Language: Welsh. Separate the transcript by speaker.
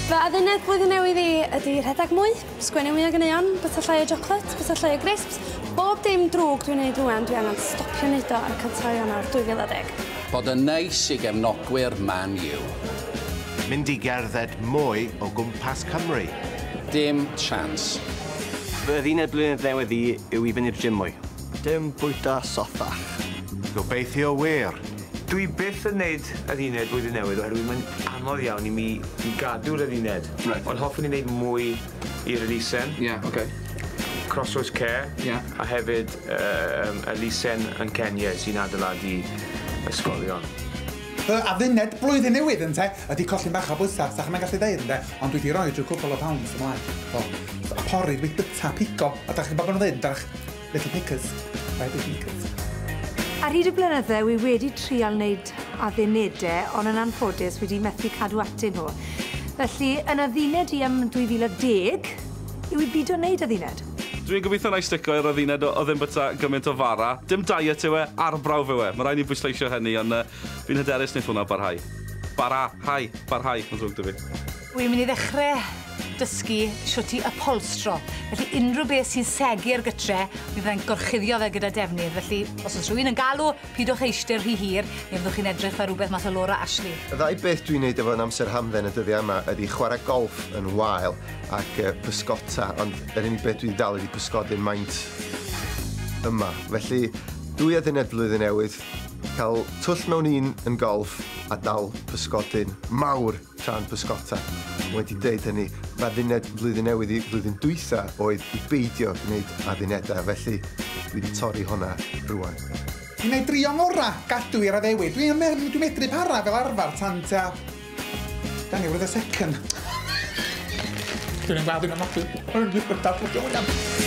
Speaker 1: Fy adduned blwyddyn newydd i ydy rhedeg mwy, sgwennu mwy o ganeuon, bwyta llai o chocolate, bwyta llai o grisps. Bob dim drwg dwi'n neud rwan, dwi angen stopio neud o ar y cyntaf o Ionawr 2010. Bod yn neis i gefnogwyr Man U. Mynd i gerdded mwy o gwmpas Cymru. Dim chance. Fy adduned blwyddyn newydd i yw i fyny'r gym mwy. Dim bwyta sothach. Gobeithio wir! Dwi byth yn neud yr uned blwyddyn newydd oherwydd mae'n anodd iawn i mi i gadw'r yr uned. Reit. Ond hoffwn i neud mwy i'r elusen. Ie, oce. Crossroads Care. Ie. A hefyd yym elusen yn Kenya sy'n adeiladu ysgolion. Fy adduned blwyddyn newydd, ynte, ydi colli bach o bwysa, fysach chi'm yn gallu deud, ynde, ond dwi 'di roi rhyw cwpwl o pounds ymlaen. O, pori, rwyt byta, pigo, a 'dach chi'n gwbod be' ma' nhw'n ddeud, yndach? Little Pickers by The Beatles. Ar hyd y blynydde wi wedi trial wneud addunede ond yn anffodus wedi methu cadw atyn nhw. Felly yn adduned i am 2010 yw i bido wneud adduned. Dwi'n gobeithio wna i stico i'r adduned o ddim byta gymaint o fara. Dim diet yw e, arbrawf yw e. Mae rhaid ni bwysleisio hynny ond yy fi'n hyderus wneith hwnna barhau. Bara-hau! Barhau! Mae'n ddrwg 'da fi. Wi'n mynd i ddechre dysgu shwt i ypholstro, felly unrhyw beth sy'n segu ar gytre, mi fyddai'n gorchuddio fe gyda defnydd, felly os oes rhywun yn galw, pidwch eistedd rhy hir, neu fyddwch chi'n edrych fel rhywbeth mas o Laura Ashley. Y ddau beth dwi'n neud efo'n amser hamdden y dyddia yma ydi chwara golff yn wael ac yy pysgota, ond yr unig beth dwi 'di dal ydi pysgodyn maint yma. Felly dwy aduniad Blwyddyn Newydd, ca'l twll mewn un yn golff a dal pysgodyn mawr! Tra'n pysgota. Wedi deud hynny, m'adduned Blwyddyn Newydd i flwyddyn dwytha oedd i beidio gwneud addunedau, felly dwi wedi torri honna rwan. Dwi'n ei drio ngora gadw i'r addewid. Dwi yn meddwl dwi'n medru para fel arfer tan tua... Dani, wrth y second. Dwi'n yn glad dwi'n anadlu. Dwi'n yn gwybod dadl, dwi'n yn